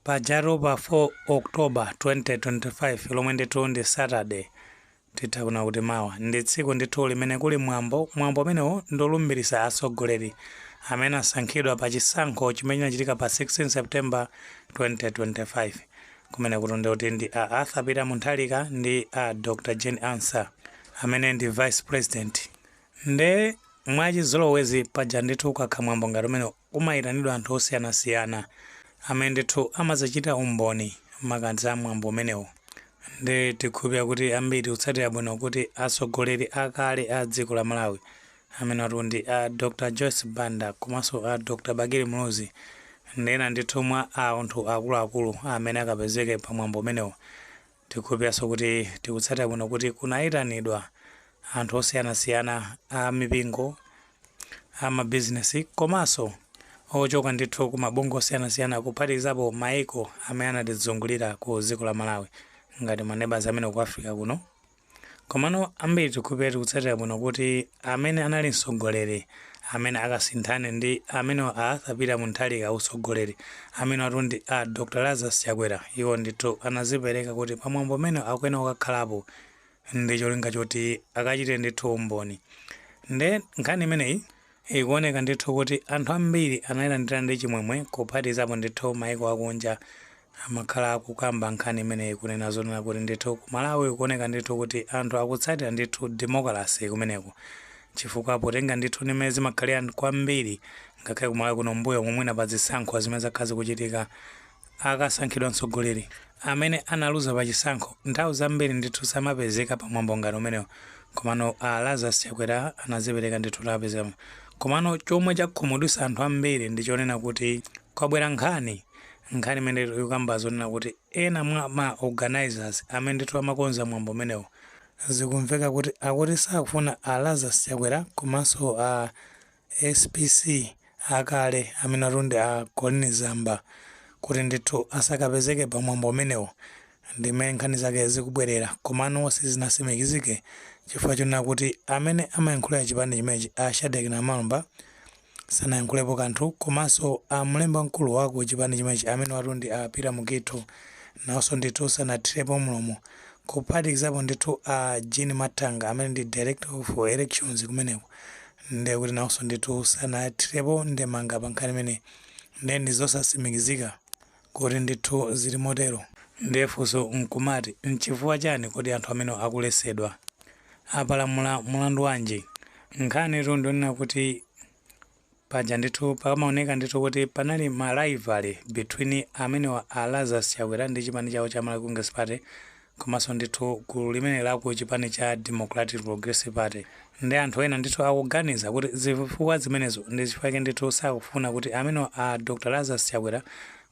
Pajatu pa 4 October 2025 lomwe ndithu ndi Saturday titha kunena kuti mawa ndi tsiku ndithu limene kuli mwambo mwambo umenewo ndolumbiritsa atsogoleri amene asankhidwa pa chisankho chimene chinachitika pa 16 September 2025 amenewatu ndi a Arthur Peter Mutharika ndi a Dr Jane Ansah amene ndi vice president nde mwachizolowezi paja ndithu ukakhala mwambo ngati umene Kumaitanidwa anthu osiyanasiyana amene ndithu amadzachitira umboni makamaka za mwambo umenewu. Nde tikhulupira kuti ambiri tikutsatira bwino kuti atsogoleri a kale a dziko la Malawi amenewatu ndi a Dr Joyce Banda komanso a Dr Bakili Muluzi ndi ena ndithu mwa anthu akuluakulu amene akapezeke pa mwambo umenewu Tikukhulupiriranso kuti tikutsatira bwino kuti kunaitanidwa anthu osiyanasiyana a mipingo, a mabizinesi komanso ochoka ndithu ku mabungwe osiyanasiyana kuphatikizapo maiko amene anatizungulira ku dziko la Malawi ngati ma neighbours amene ku Africa kuno. Komano ambiri tikukhulupirira tikutsatira bwino kuti amene anali mtsogoleri amene akasinthane ndi amenewa a Arthur Peter Mutharika utsogoleri, amenewatu ndi a Dr Lazarus Chakwera, iwo ndithu anazipereka kuti pa mwambo umenewu akuyenera kukakhalapo ndi cholinga choti akachitire ndithu umboni. Nde nkhani imeneyi Ikuoneka ndithu kuti anthu ambiri anailandira ndi chimwemwe kuphatikizapo ndithu maiko akunja amakhala akukamba nkhani imeneyi kunena zonena kuti ndithu ku Malawi kuoneka ndithu kuti anthu akutsatira ndithu demokalase kumeneku chifukwa potenga ndithu ndi mmene zimakhalira kwambiri ngakhale ku Malawi kuno mbuyo momwemu pa zisankho zimene zakhala zikuchitika akasankhidwa mtsogoleri amene analuza pa chisankho nthawi zambiri ndithu samapezeka pa mwambo ngati umenewu komano a Lazarus Chakwera anazipereka ndithu kuti apezekapo komano chomwe chakhumudwitsa anthu ambiri ndi chonena kuti kwabwera nkhani nkhani imene ikukamba zonena kuti ena mwa ma organizers amene ndithu amakonza mwambo umenewu zikumveka kuti akuti sakufuna a Lazarus Chakwera komanso a SPC akale amenewatu ndi a Colleen Zamba kuti ndithu asakapezeke pa mwambo umenewu ndi mmene nkhani zake zikubwerera komano sizinatsimikizike chifukwa chonena kuti amene amayankhulira chipani chimenechi a Shadreck Namalomba sanayankhulepo kanthu komanso a mlembi wamkulu wa ku chipani chimenechi amenewatu ndi a Peter Mukhito nawonso ndithu sanathirepo mlomo kuphatikizapo ndithu a Jean Mathanga amene ndi Director of Elections kumeneko ndiye kuti nawonso ndithu sanathirepo ndemanga pa nkhani imeneyi ndiye ndi zosasimikizika kuti ndithu zili motero ndiye funso nkumati nchifukwa chani kodi anthu amenewa akulesedwa apalamula mulandu wanji nkhanitu ndionena kuti paja ndithu pakamaoneka ndithu kuti panali ma rivalry between amenewa a Lazarus Chakwera ndi chipani chawo cha Malawi Congress Party Komanso ndithu gulu limeneli la ku chipani cha Democratic Progressive Party ndi anthu ena ndithu akuganiza kuti zifukwa zimenezo ndi chifukwa chake ndithu sakufuna kuti amenewa a Dr Lazarus Chakwera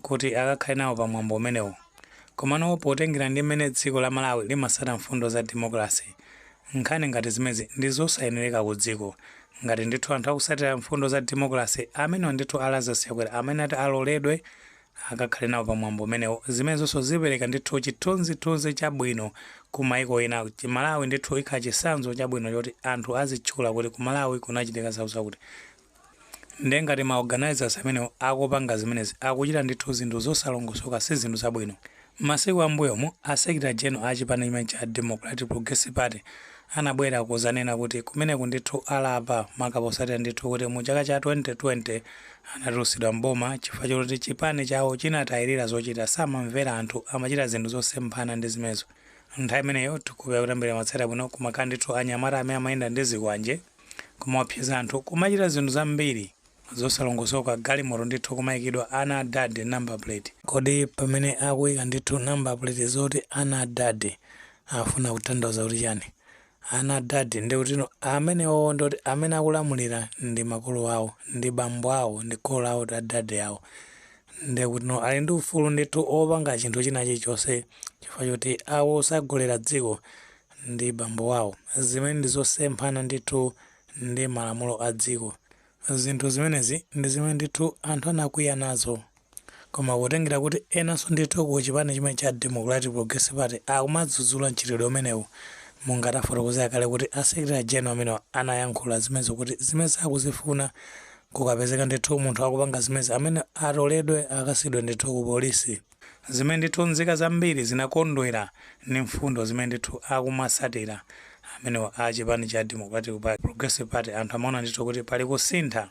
kuti akakhale nawo pa mwambo umenewu. Komano potengera ndi mmene dziko la Malawi limasatira mfundo za demokalase, nkhani ngati zimenezi ndi zosayenereka ku dziko. Ngati ndithu anthu akusatira mfundo za demokalase, amenewa ndithu a Lazarus Chakwera amayenera kuti aloledwe akakhale nawo pa mwambo umenewu. Zimenezonso zipereka ndithu chithunzithunzi chabwino ku maiko ena. Malawi ndithu ikhala chitsanzo chabwino choti anthu azitchula kuti ku Malawi kunachitika zakuzakuti. Ndiye ngati ma organisers amenewo akupanga zimenezi akuchita ndithu zinthu zosalongosoka si zinthu zabwino. M'masiku a m'mbuyomu, a Secretary General a chipani chimenechi cha Democratic Progressive Party anabwera kuzanena kuti kumeneku ndithu alapa maka posatira ndithu kuti mu chaka cha 2020 anatulusidwa m'boma chifukwa choti chipani chawo chinatayilira zochita samamvera anthu amachita zinthu zosemphana ndi zimenezo nthawi imeneyo tikudziwa kuti ambiri amatsatira bwino kumakhala ndithu anyamata amene amayenda ndi zikwanje kumaopseza anthu kumachita zinthu zambiri zosalongosoka galimoto ndithu kumaikidwa ana a dad number plate. Kodi pamene akuika ndithu number plate zoti ana a dad afuna kutanthauza kuti chani? Ana a dad ndikutino amenewowo ndi oti amene akulamulira ndi makolo awo ndi bambo awo ndi kholo lawo a dad awo ndikutino ali ndi ufulu ndithu opanga chinthu china chilichonse chifukwa choti akusogolera dziko ndi bambo wawo zimenezi ndi zosemphana ndithu ndi malamulo a dziko. Zinthu zimenezi ndi zimene ndithu anthu anakwiya nazo. Koma kutengera kuti enanso ndithu ku chipani chimenechi cha Democratic Progressive Party akumadzudzula mchitidwe umenewu, monga tafotokozera kale kuti a Secretary General amenewa anayankhula zimenezo kuti zimenezi sakuzifuna akapezeka ndithu munthu akupanga zimenezi ameneyo atoledwe akasiyidwe ndithu ku polisi. Zimene ndithu nzika zambiri zinakondwera ndi mfundo zimene ndithu akumasatira amenewa a chipani cha Democratic Party, Progressive Party anthu amaona ndithu kuti pali kusintha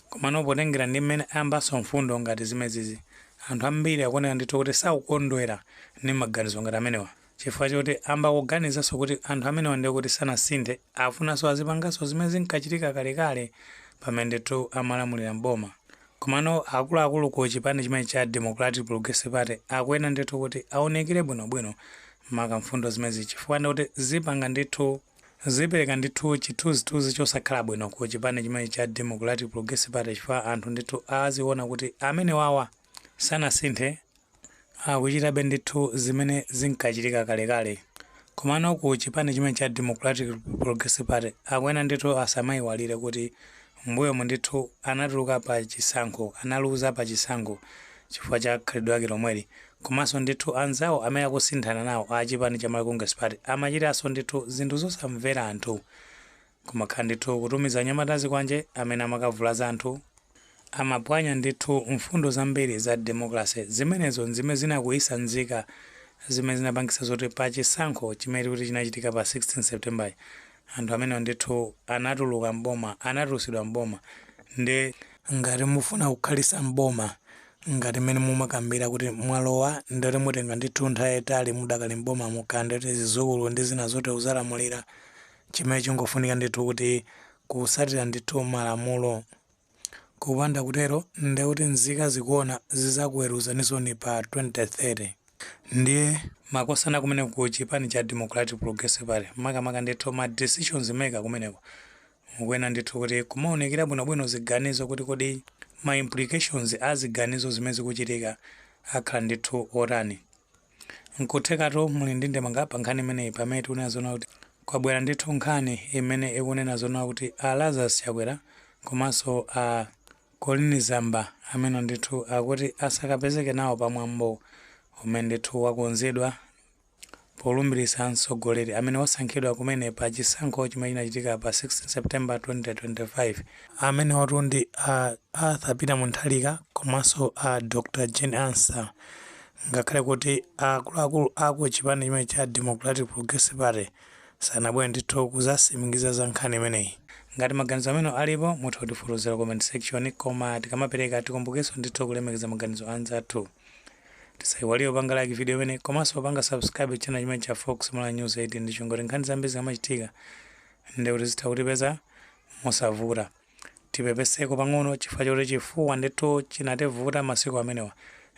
komano potengera ndi mmene ayambanso mfundo ngati zimenezizi anthu ambiri akuoneka ndithu kuti sakukondwera ndi maganizo ngati amenewa. Chifukwa choti ayamba kuganizanso kuti anthu amenewa ndiye kuti sanasinthe, akufunanso azipanganso zimene zinkachitika kalekale pamene ndithu amalamulira m'boma. Komano akuluakulu ku chipani chimenechi cha Democratic Progressive Party akuyenera ndithu kuti aunikire bwinobwino maka mfundo zimenezi chifukwa ndiye kuti zipanga ndithu, zipereka ndithu chithunzithunzi chosakhala bwino ku chipani chimenechi cha Democratic Progressive Party chifukwa anthu ndithu aziona kuti amenewawa sanasinthe, akuchitabe ndithu zimene zinkachitika kalekale. Komano ku chipani chimene cha Democratic Progressive Party akuyenera ndithu asamaiwalire kuti m'mbuyomu ndithu anatuluka pa chisankho, analuza pa chisankho chifukwa cha khalidwe lake lomweli. Komanso ndithu anzawo amene akusinthana nawo a chipani cha Malawi Congress Party amachitanso ndithu zinthu zosamvera anthu. Kumakhala ndithu kutumiza anyamata azikwanje amene amakavulaza anthu. Amapwanya ndithu mfundo zambiri za democracy. Zimenezo n'zimene zinakwiyisa nzika zimene zinapangisa zoti pa chisankho chimene changochitika pa 16 September-chi, anthu amenewa ndithu anatuluka m'boma, anatulusidwa m'boma. Ndiye. ngati mufuna kukhalisa m'boma ngati m'mene mumakambila kuti mwalowa ndiye kuti mutenga ndithu nthawi yaitali mudakali m'bomamo, kaya ndiye kuti zizukulu ndi zina zotelo muzalamulira. Chimene chingofunika ndithu kuti kusatira ndithu malamulo. Kupanda kutero ndekuti nzika zikuona zizakuweruzaninsoni pa 2030. Ndiye makosana kumeneko ku chipani cha Democratic Progressive Party makamaka ndithu ma decisions maker kumeneko mukuyenera ndithu kuti kumaunikira bwinobwino ziganizo kuti kodi ma implications a ziganizo zimene zikuchitika akhala ndithu otani. N'kuthekatu muli ndi ndemanga pa nkhani imeneyi pamene tikunena zoona kuti kwabwera ndithu nkhani imene ikunena zoona kuti a Lazarus Chakwera komanso a Colleen Zamba amenewa ndithu akuti asakapezeke nawo pa mwambo umene ndithu wakonzedwa polumbiritsa mtsogoleri amene wasankhidwa kumene pa chisankho chimene chinachitika pa 16 September 2025. Amenewatu ndi a Arthur Peter Mutharika komanso a Dr Jane Ansah Ngakhale kuti akuluakulu a ku chipani chimene cha Democratic Progressive Party sanabwere ndithu kuzasimikiza za nkhani imeneyi. Ngati maganizo amenewo alipo, mutha kutifotokozera ku comment section, koma tikamapereka tikumbukenso ndithu kulemekeza maganizo anzathu. Tisayiwalire kupanga like video imeneyi komanso kupanga subscribe channel chimene cha Fox Malawi News 18 n'cholinga choti nkhani zambiri zikamachitika ndekuti zitha kutipeza mosavuta. tipepeseko pang'ono chifukwa choti chifuwa ndithu chinativuta masiku amenewa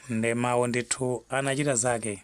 nde mawo ndithu anachita zake.